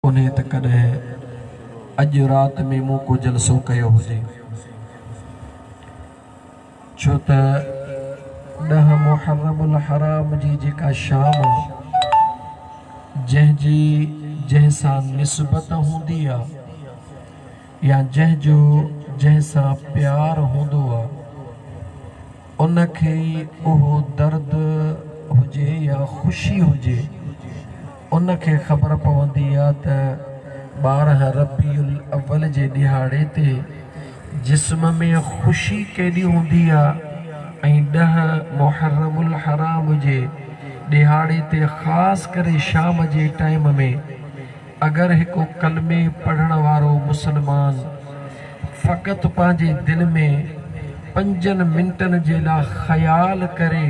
انهيء ته ڪڏهن اڄ رات ۾ مون ڪو جلسو ڪيو هجي، ڇو ته ڏهه محرم الحرام جي جيڪا شام، جنهن جي جنهن سان نسبت هوندي آ، يا جنهن جو جنهن سان پيار هوندو آ، ان کي اهو درد هجي يا خوشي هجي ان کي خبر پوندي آ ته ٻارهن ربيع الاول جي ڏهاڙي تي جسم ۾ خوشي ڪيڏي هوندي آ ۽ ڏهه محرم الحرام جي ڏهاڙي تي خاص ڪري شام جي ٽائيم ۾ اگر هڪ ڪلمي پڙهڻ وارو مسلمان فقط پنهنجي دل ۾ پنجن منٽن جي لا خيال ڪري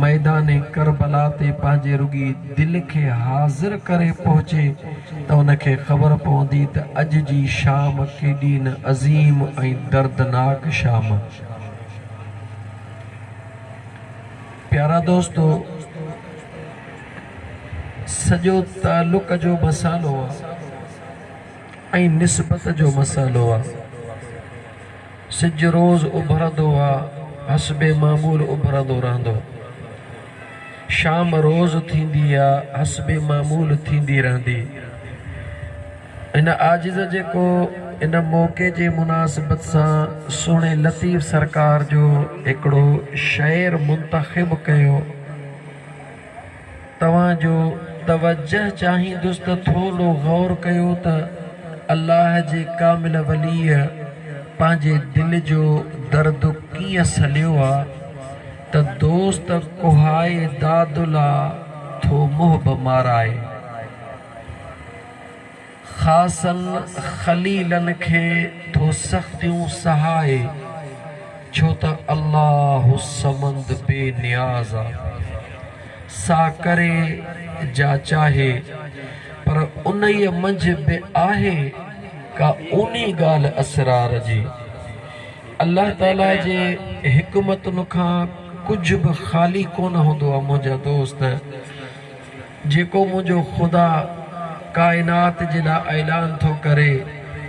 ميدان ڪربلا تي پنهنجي رڳي دل کي حاضر ڪري پهچي ته ان کي خبر پوندي ته اڄ جي شام ڪيڏي نه عظيم ۽ دردناڪ شام پيارا دوستو! سڄو تعلق جو مسئلو آ ۽ نسبت جو مسئلو آ. سج روز اڀرندو آ، حسب معمول اڀرندو رهندو. شام روز ٿيندي آ، حسب معمول ٿيندي رهندي. هن عاجز جيڪو ان موقعي جي مناسبت سان سهڻي لطيف سرڪار جو هڪڙو شعر منتخب ڪيو. توهان جو توجه چاهيندس ته ٿورو غور ڪيو ته الله جي ڪامل وليء پنهنجي دل جو درد ڪيئن سليو آ ته دوست ڪوهائي داد لا ٿو محب مارائي. خاصن خليلن کي ٿو سختيون سهائي، ڇو ته الله الصمد بي نياز آ، سا ڪري جا چاهي، پر انهيء منجهه به آهي ڪا اونهي ڳالهه اسرار جي، الله تعاليٰ جي حڪمتن کان ڪجهه به خالي ڪونه هوندو آ منهنجا دوست! جيڪو منهنجو خدا ڪائنات جي لاء اعلان ٿو ڪري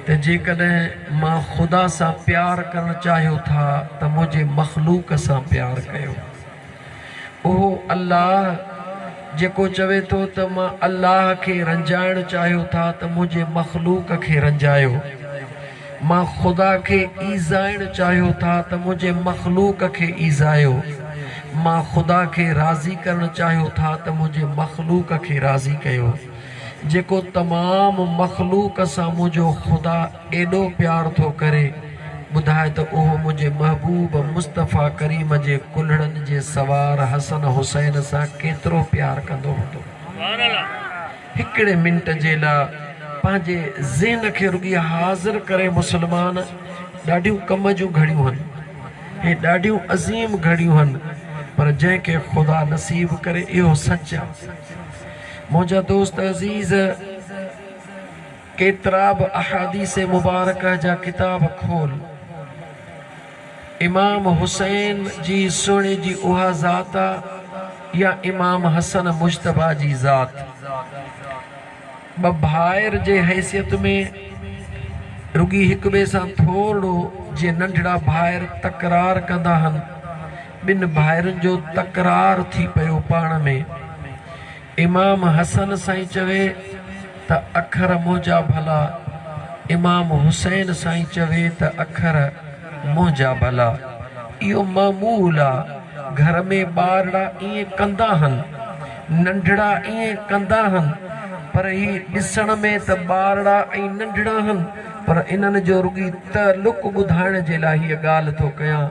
ته جيڪڏهن مان خدا سان پيار ڪرڻ چاهيو ٿا ته منهنجي مخلوق سان پيار ڪيو. اهو الله جيڪو چوي ٿو ته مان الله کي رنجائڻ چاهيو ٿا ته منهنجي مخلوق کي رنجايو. مان خدا کي ايذائڻ چاهيو ٿا ته منهنجي مخلوق کي ايذايو، مان خدا کي راضي ڪرڻ چاهيو ٿا ته منهنجي مخلوق کي راضي ڪيو، جيڪو تمام مخلوق سان منهنجو خدا ايڏو پيار ٿو ڪري، ٻڌاء ته اهو منهنجي محبوب مصطفيٰ ڪريم جي ڪلهڙن جي سوار حسن حسين سان ڪيترو پيار ڪندو هوندو. هڪڙي منٽ جي لا پنهنجي ذهن کي رڳي حاضر ڪري مسلمان ڏاڍيون ڪم جون گهڙيون هن هي ڏاڍيون عظيم گهڙيون هن پر جنهن کي خدا نصيب ڪري اهو سچ آ منهنجا دوست عزيز ڪيترا به احاديث مبارڪه جا ڪتاب کول امام حسين جي سهڻي جي اها ذات آ يا امام حسن مجتبيٰ جي ذات؟ ٻه ڀائر جي حيثيت ۾ رڳي هڪ ٻئي سان ٿورڙو جيئن ننڍڙا ڀائر تڪرار ڪندا هن، ٻن ڀائرن جو تڪرار ٿي پيو پاڻ ۾. امام حسن سائين چوي ته اکر منهنجا ڀلا امام حسين سائين چوي ته اکر منهنجا ڀلا اهو معمول آ گهر ۾ ٻارڙا ائين ڪندا هن ننڍڙا ائين ڪندا هن پر هي ڏسڻ ۾ ته ٻارڙا ۽ ننڍڙا هن پر انهن جو رڳي تعلق ٻڌائڻ جي لاء هيء ڳالهه ٿو ڪيان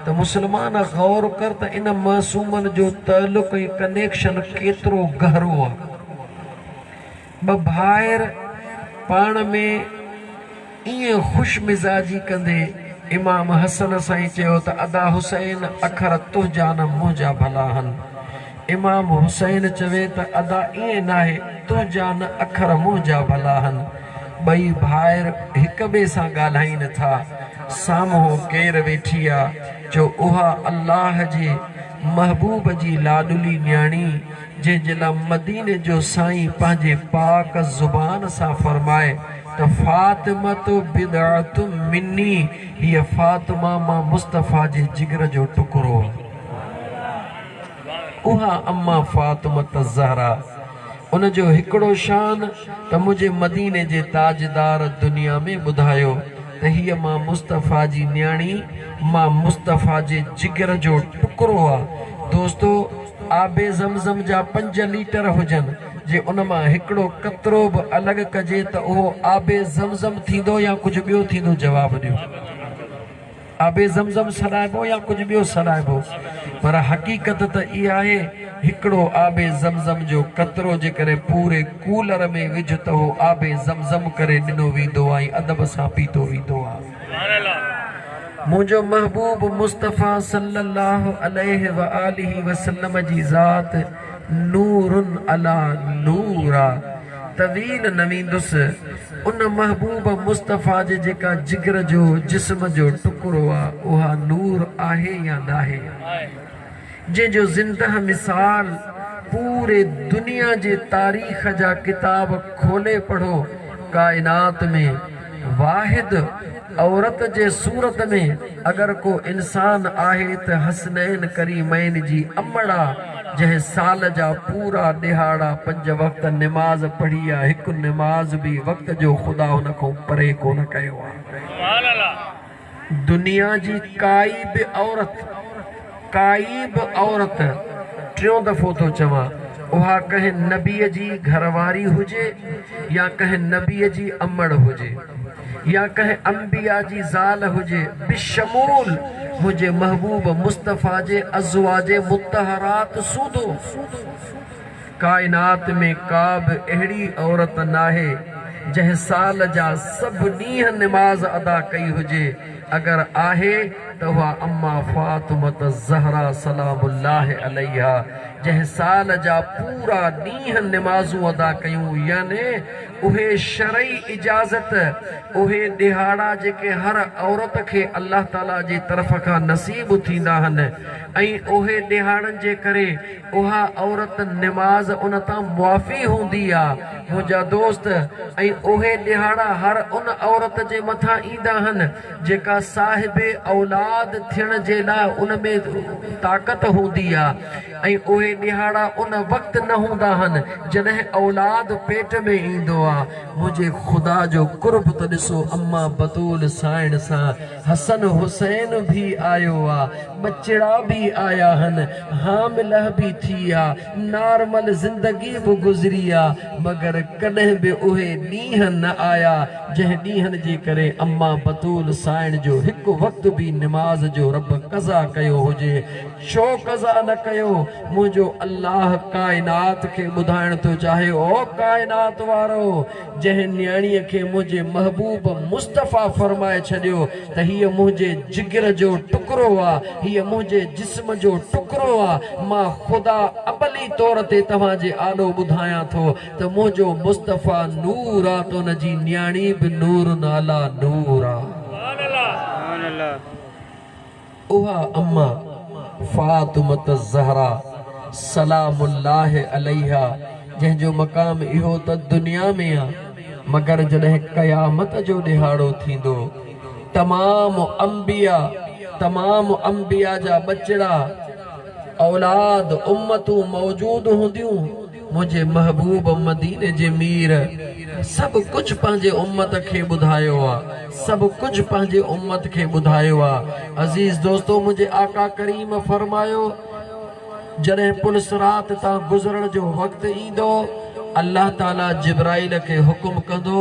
ته مسلمان غور ڪر ته ان معصومن جو تعلق ۽ ڪنيڪشن ڪيترو گهرو آ. ٻه ڀائر پاڻ ۾ ائين خوش مزاجي ڪندي امام حسن سائين چيو ته ادا حسين اکر تنهنجا نه منهنجا ڀلا هن. امام حسين چوي ته ادا ائين ناهي، تنهنجا نه اکر منهنجا ڀلا هن. ٻئي ڀائر هڪ ٻئي سان ڳالهائين ٿا. سامهون ڪير ويٺي آ، جو اها الله جي محبوب جي لاڏلي نياڻي، جنهن جي لا مديني جو سائين پنهنجي پاڪ زبان سان فرمائي ته فاطمة بضعة مني، هيء فاطمه مان مصطفيٰ جي جگر جو ٽڪرو آ. اها اما فاطمة الزهراء ان جو هڪڙو شان ته منهنجي مديني جي تاجدار دنيا ۾ ٻڌايو ته هيء مان مصطفيٰ جي نياڻي مان مصطفيٰ جي جگر جو ٽڪرو آ دوستو آب زمزم جا پنج ليٽر هجن جي ان مان هڪڙو قطرو به الڳ ڪجي ته اهو آب زمزم ٿيندو يا ڪجهه ٻيو ٿيندو جواب ڏيو. آب زمزم سڏائبو يا ڪجهه ٻيو سڏائبو پر حقيقت ته اها آهي هڪڙو آب زمزم جو قطرو جيڪڏهن پوري ڪولر ۾ وجهه ته اهو آب زمزم ڪري ڏنو ويندو آهي ۽ ادب سان پيتو ويندو آهي. منهنجو محبوب مصطفيٰ صلّي اللّٰه عليه واٰله وسلّم جي ذات نور عليٰ نور آ. تويل نه ويندس ان محبوب مصطفيٰ جي جيڪا جگر جو جسم جو ٽڪرو آ اها نور آهي يا ناهي جنهن جو زنده مثال پوري دنيا جي تاريخ جا ڪتاب کولي پڙهو ڪائنات ۾ واحد عورت جي صورت ۾ اگر ڪو انسان آهي ته حسنين ڪريمين جي امڙا جنهن سال جا پورا ڏهاڙا پنج وقت نماز پڙهي آ هڪ نماز به وقت جو خدا هن کون پري ڪونه ڪيو آ. دنيا جي ڪائي به عورت، ڪائي به عورت، ٽيون دفعو ٿو چوان، اها ڪنهن نبيء جي گهر واري هجي يا ڪنهن نبيء جي امڙ هجي يا ڪنهن انبياء جي زال هجي، بشمول منهنجي محبوب مصطفيٰ جي ازواج مطهرات سوڌو. ڪائنات ۾ ڪا به اهڙي عورت ناهي جنهن سال جا سڀ ڏينهن نماز ادا ڪئي هجي، اگر آهي ته اها اما فاطمة الزهراء سلام الله عليها جنهن سال جا پورا ڏينهن نمازون ادا ڪيون يعني اهي شرعي اجازت اهي ڏهاڙا جيڪي هر عورت کي الله تعالي جي طرف کان نصيب ٿيندا هن ۽ اهي ڏهاڙن جي ڪري اها عورت نماز ان تان معافي هوندي آ منهنجا دوست ۽ اهي ڏهاڙا هر ان عورت جي مٿان ايندا هن جيڪا صاحب اولاد ٿيڻ جي لاء ان ۾ طاقت هوندي آ ۽ اهي ڏهاڙا ان وقت نه هوندا هن جڏهن اولاد پيٽ ۾ ايندو آ منهنجي خدا جو قرب ته ڏسو اما بتول سائڻ سان حسن حسين به آيو آ ٻچڙا به آيا ھن حامله به ٿي آ نارمل زندگي به گذري آ مگر ڪڏھن به اھي ڏينھن نه آيا جنھن ڏينھن جي ڪري اما بتول سائڻ جو ھڪ وقت به نماز جو رب قضا ڪيو ھجي ڇو قضا نه ڪيو منھنجو الله ڪائنات کي ٻڌائڻ ٿو چاھي او ڪائنات وارو جنهن نياڻيء کي منهنجي محبوب مصطفيٰ فرمائي ڇڏيو ته هيء منهنجي جگر جو ٽڪرو آ، هيء منهنجي جسم جو ٽڪرو آ، مان خدا ابلي طور تي توهان جي آڏو ٻڌايان ٿو ته منهنجو مصطفيٰ نور آ ته ان جي نياڻي به نور علی نور آ. اها امه فاطمة الزهراء سلام الله عليها جنهن جو مقام اهو ته دنيا ۾ آ مگر جڏهن قيامت جو ڏهاڙو ٿيندو تمام انبياء تمام انبياء جا ٻچڙا اولاد امتون موجود هونديون منهنجي محبوب مديني جي مير سڀ ڪجهه پنهنجي امت کي ٻڌايو آ سڀ ڪجهه پنهنجي امت کي ٻڌايو آ عزيز دوستو منهنجي آقا ڪريم فرمايو جڏهن پل صراط تان گذرڻ جو وقت ايندو الله تعالي جبرائيل کي حڪم ڪندو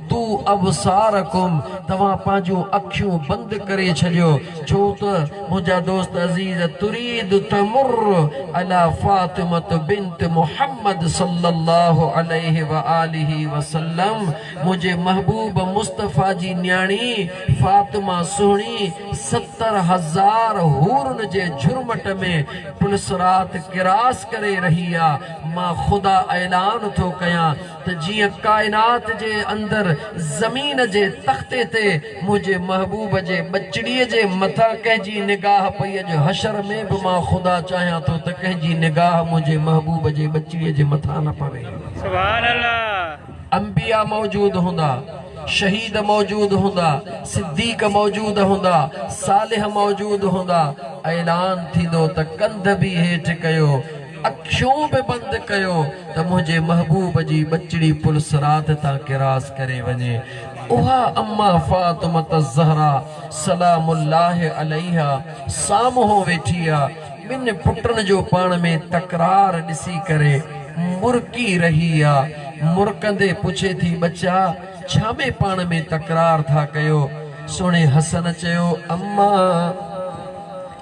تو ابصارکم توهان پنهنجون اکيون بند ڪري ڇڏيو ڇو ته منهنجا دوست عزيز تريد تمر علي فاطمة بنت محمد صلّي الله عليه واٰله وسلّم منهنجي محبوب مصطفٰي جي نياڻي فاطمه سهڻي ستر هزار حورن جي جهرمٽ ۾ پلصراط ڪراس ڪري رهي آ مان خدا اعلان ٿو ڪيان ته جيئن ڪائنات جي اندر زمين جي تختي تي منهنجي محبوب جي ٻچڙي جي مٿان ڪنهن جي نگاهه پئي اڄ حشر ۾ به مان خدا چاهيان ٿو ته ڪنهن جي نگاهه منهنجي محبوب جي ٻچڙي جي مٿان نه پوي. انبيا موجود هوندا، شهيد موجود هوندا، صديق موجود هوندا، صالح موجود هوندا، اعلان ٿيندو ته ڪنڌ به هيٺ ڪيو. اکيون به بند ڪيو ته منهنجي محبوب جي ٻچڙي پل صراط تان ڪراس ڪري وڃي اها اما فاطمة الزهراء سلام الله عليها سامهون ويٺي آ ٻن پٽن جو پاڻ ۾ تڪرار ڏسي ڪري مرڪي رهي آ مرڪندي پڇي ٿي ٻچا ڇا ۾ پاڻ ۾ تڪرار ٿا ڪيو سهڻي حسن چيو اما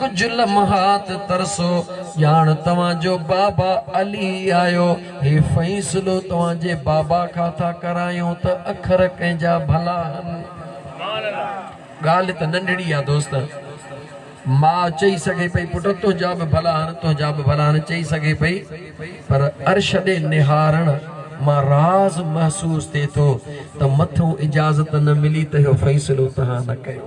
ڪجهه لمحات ترسو، ڄاڻ توهان جو بابا علي آيو. هي فيصلو توهان جي بابا کان ٿا ڪرايون ته اکر ڪنهن جا ڀلا هن. ڳالهه ته ننڍڙي آ دوست. ماء چئي سگهي پئي پٽ تنهنجا به ڀلا هن، تنهنجا به ڀلا هن چئي سگهي پئي پر عرش ڏي نهارڻ مان راز محسوس ٿئي ٿو ته مٿئون اجازت نه ملي ته اهو فيصلو توهان نه ڪيو.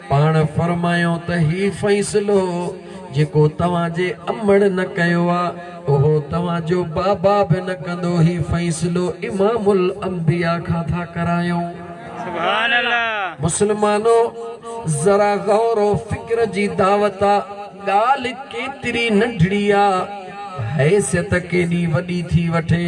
پاڻ فرمايو ته هي فيصلو جيڪو توهان جي امڙ نه ڪيو آ اهو توهان جو بابا به نه ڪندو هي فيصلو امام الانبياء کان ٿا ڪرايون. سبحان الله. مسلمانو ذرا غور و فڪر جي دعوت آ ڳالهه ڪيتري ننڍڙي آ حيثيت ڪيڏي وڏي ٿي وٺي.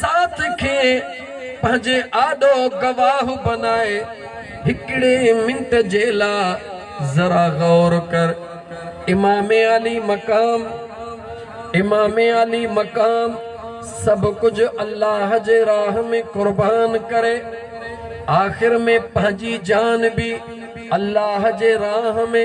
ذات کي پنهنجي آڏو گواهه بنائي هڪڙي منٽ جي لا ذرا غور ڪر امام علي مقام امام علي مقام سڀ ڪجھ الله جي راه ۾ قربان ڪري آخر ۾ پنهنجي جان به الله جي راه ۾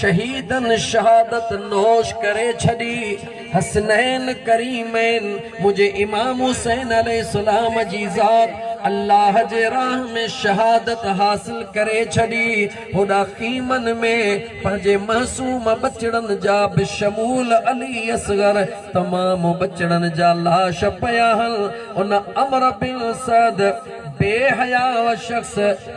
شهيدن شهادت نوش ڪري ڇڏي، حسنين ڪريمين منهنجي امام حسين عليه السلام جي ذات الله جي راهه ۾ شهادت حاصل ڪري ڇڏي، هوڏا خيمن ۾ پنهنجي معصوم ٻچڙن جا بشمول علي اصغر تمام ٻچڙن جا لاش پيا هن ان عمرو بن سعد بي حياء شخص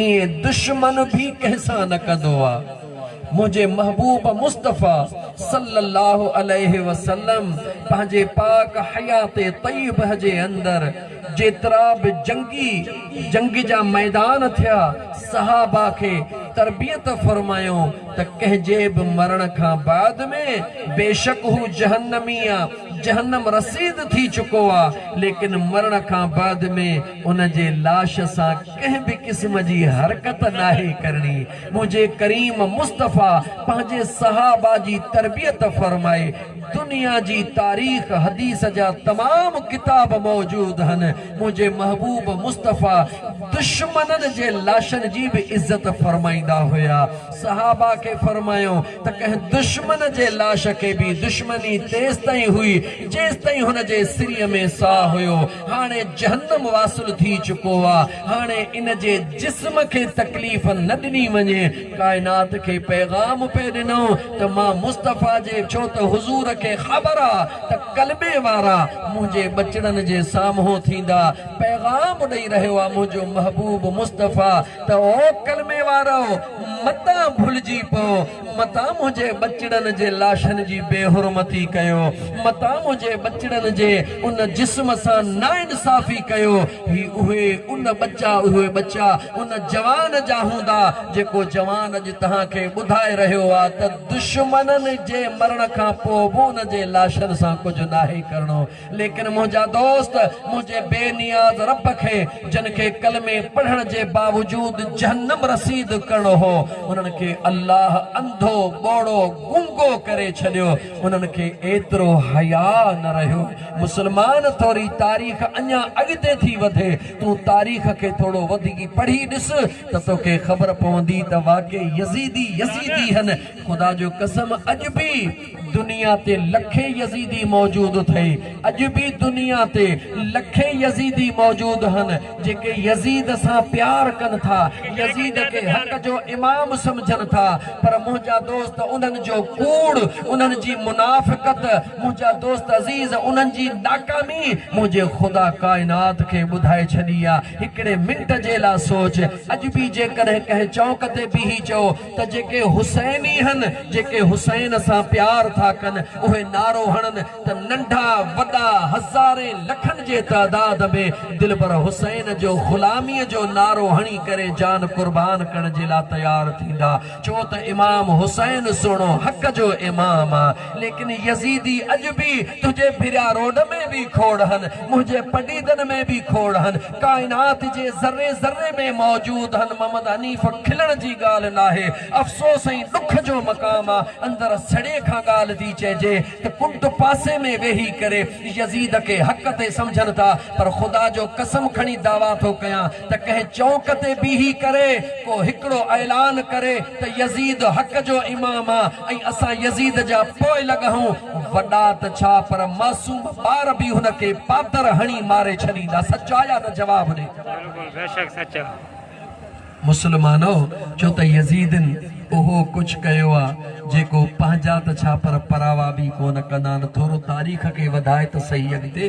ايئن دشمن به ڪنهن سان نه ڪندو آ. منهنجي محبوب مصطفيٰ صلّي اللّٰه عليه وسلّم پنهنجي پاڪ حيات طيّبه جي اندر جيترا به جنگي، جنگ جا ميدان ٿيا، صحابه کي تربيت فرمايائون ته ڪنهن جي به مرڻ کان بعد ۾ بيشڪ هو جهنّمي آ، جهنّم رسيد ٿي چڪو آ، ليڪن مرڻ کان بعد ۾ ان جي لاش سان ڪنهن به قسم جي حرڪت ناهي ڪرڻي، منهنجي ڪريم مصطفيٰ پنهنجي صحابه جي تربيت فرمائي، دنيا جي تاريخ حديث جا تمام ڪتاب موجود هن، منهنجي محبوب مصطفيٰ دشمنن جي لاشن جي به عزت فرمائيندا هيا، صحابه کي فرمايو ته ڪنهن دشمن جي لاش کي به دشمني تيستائين هئي جيستائين هن جي سري ۾ ساهه هيو، هاڻي جهنم واصل ٿي چڪو آ هاڻي ان جي جسم کي تڪليف نه ڏني وڃي ڪائنات کي پيغام پئي ڏنو ته مان مصطفيٰ جي ڇو ته حضور کي خبر آ ته ڪلبي وارا منهنجي ٻچڙن جي سامهون ٿيندا پيغام ڏئي رهيو آ منهنجو محبوب مصطفيٰ ته او ڪلمي وارؤ متان ڀلجي پئو متان منهنجي ٻچڙن جي لاشن جي بي حرمتي ڪيو، متان منهنجي ٻچڙن جي ان جسم سان ناانصافي ڪيو، هي اهي ان ٻچا اهي ٻچا ان جوان جا هوندا جيڪو جوان اڄ توهان کي ٻڌائي رهيو آ ته دشمنن جي مرڻ کان پوء به ان جي لاشن سان ڪجهه ناهي ڪرڻو. ليڪن منهنجا دوست منهنجي بي نياز رب کي جن کي ڪلمي پڙهڻ جي باوجود جهنم رسيد ڪرڻو هو انهن کي الله انڌو، ٻوڙو، گونگو ڪري ڇڏيو انهن کي ايترو حياء نه رهيو مسلمان ٿوري تاريخ اڃا اڳتي ٿي وڌي تون تاريخ کي ٿورو وڌيڪ پڙهي ڏس ته توکي خبر پوندي ته واقعي يزيدي يزيدي هن خدا جو قسم اڄ به دنيا تي لکين يزيدي موجود اٿئي، اڄ به دنيا تي لکين يزيدي موجود هن جيڪي يزيد سان پيار ڪن ٿا، يزيد کي حق جو امام سمجهن ٿا، پر منهنجا دوست انهن جو ڪوڙ، انهن جي منافقت، منهنجا دوست عزيز انهن جي ناڪامي منهنجي خدا ڪائنات کي ٻڌائي ڇڏي آ، هڪڙي منٽ جي لا سوچ، اڄ به جيڪڏهن ڪنهن چونڪ تي بيهي چئو. ته جيڪي حسيني هن، جيڪي حسين سان پيار ٿا ڪن، اهي نعرو هڻن ته ننڍا وڏا هزارين لکن جي تعداد ۾ دلبر حسين جو غلاميء جو نعرو هڻي ڪري جان قربان ڪرڻ جي لا تيار ٿيندا ڇو ته امام حسين سهڻو حق جو امام آ ليڪن يزيدي اڄ به تنهنجي ڀريا روڊ ۾ به کوڙ هن منهنجي پڊيدن ۾ به کوڙ هن ڪائنات جي ذري ذري ۾ موجود ھن محمد حنيف کلڻ جي ڳالھ ناھي افسوس ۽ ڏک جو مقام آ اندر سڙي کان ڳالھ ٿي چئجي ته ڪنڊ پاسي ۾ ويھي ڪري يزيد کي حق تي سمجھن ٿا پر خدا جو قسم کڻي دعويٰ ٿو ڪيان ته ڪنھن چونڪ تي بيھي ڪري ڪو ھڪڙو اعلان ڪري ته يزيد حق جو امام آ ۽ اسان يزيد جا پوئلڳ اھون وڏا ته ڇا پر معصوم ٻار به هن کي پاتر هڻي ماري ڇڏيندا. سچ آ يا نه جواب ڏي. بلڪل بيشڪ سچ آ. مسلمانو ڇو ته يزيدن اهو ڪڇ ڪيو آ جيڪو پنهنجا ته ڇا پر پراوا به ڪونه ڪندان ٿورو تاريخ کي وڌائي ته سهي اڳتي.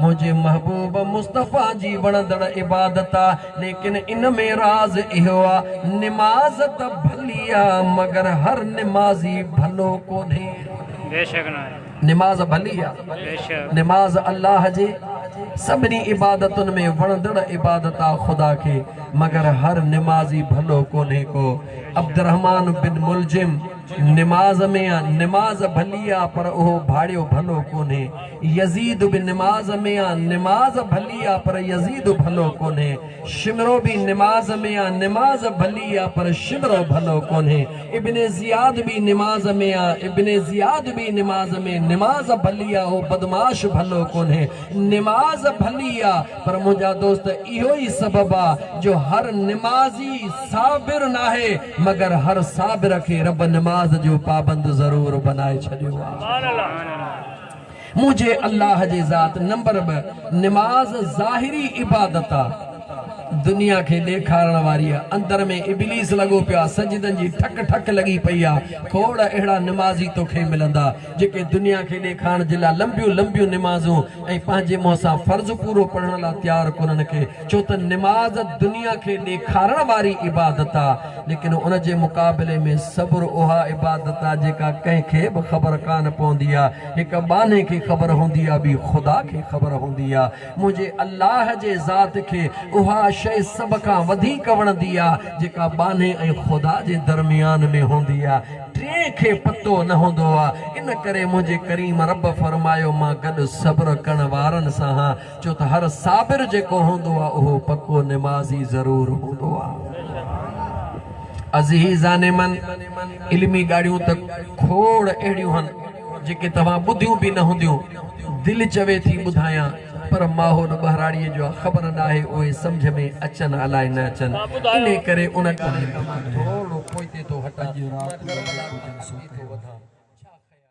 منهنجي محبوب مصطفيٰ جي وڻندڙ عبادت آ، ليڪن ان ۾ راز اهو آ، نماز ته ڀلي آ، مگر هر نمازي ڀلو ڪونهي. بيشڪ نه آهي. نماز ڀلي آ. بيشڪ. نماز الله جي سڀني عبادتن ۾ وڻندڙ عبادت آ خدا کي، مگر هر نمازي ڀلو ڪونهي ڪو. عبدالرحمان بن ملجم نماز ۾ آ، نماز ڀلي آ، پر اهو ڀاڙيو ڀلو ڪونهي. يزيد به نماز ۾ آ، نماز ڀلي آ پر يزيد ڀلو ڪونهي. شمرو به نماز ۾ آ، نماز ڀلي آ پر شمرو ڀلو ڪونهي. ابن زياد به نماز ۾ آ، ابن زياد به نماز ۾، نماز ڀلي آ، اهو بدمعاش ڀلو ڪونهي. نماز ڀلي آ پر منهنجا دوست اهو ئي سبب آ جو هر نمازي صابر ناهي مگر هر صابر کي رب نماز جو پابند ضرور بنائي ڇڏيو آ. منهنجي الله جي ذات نمبر ٻه نماز ظاهري عبادت آ دنيا کي ڏيکارڻ واري آ اندر ۾ ابليس لڳو پيو آ سجدن جي ٺڪ ٺڪ لڳي پئي آ کوڙ اهڙا نمازي توکي ملندا جيڪي دنيا کي ڏيکارڻ جي لا لنبيون لنبيون نمازون ۽ پنهنجي منهن سان فرض پورو پڙهڻ لا تيار ڪونهن کي ڇو ته نماز دنيا کي ڏيکارڻ واري عبادت آ ليڪن ان جي مقابلي ۾ صبر اها عبادت آ جيڪا ڪنهن کي به خبر ڪانه پوندي آ هڪ ٻانهي کي خبر هوندي آ ٻي خدا کي خبر هوندي آ منهنجي الله جي ذات کي اها شئي سڀ کان وڌيڪ وڻندي آ جيڪا ٻانهي ۽ خدا جي درميان ۾ هوندي آ ٽئين کي پتو نه هوندو آ ان ڪري منهنجي ڪريم رب فرمايو مان گڏ صبر ڪرڻ وارن سان هان ڇو ته هر صابر جيڪو هوندو آ اهو پڪو نمازي ضرور هوندو آ. عزيزان من! علمي ڳاڙهيون ته کوڙ اهڙيون هن جيڪي توهان ٻڌيون به نه هونديون. دل چوي ٿي ٻڌايان پر ماحول ٻهراڙيء جو آ خبر ناهي اهي سمجهه ۾ اچن الاء نه اچن انهي ڪري ان ڪم مان ٿورڙو پوئتي ٿو هٽان ۽ ڪربلا کان اڳتي ٿو وڌان.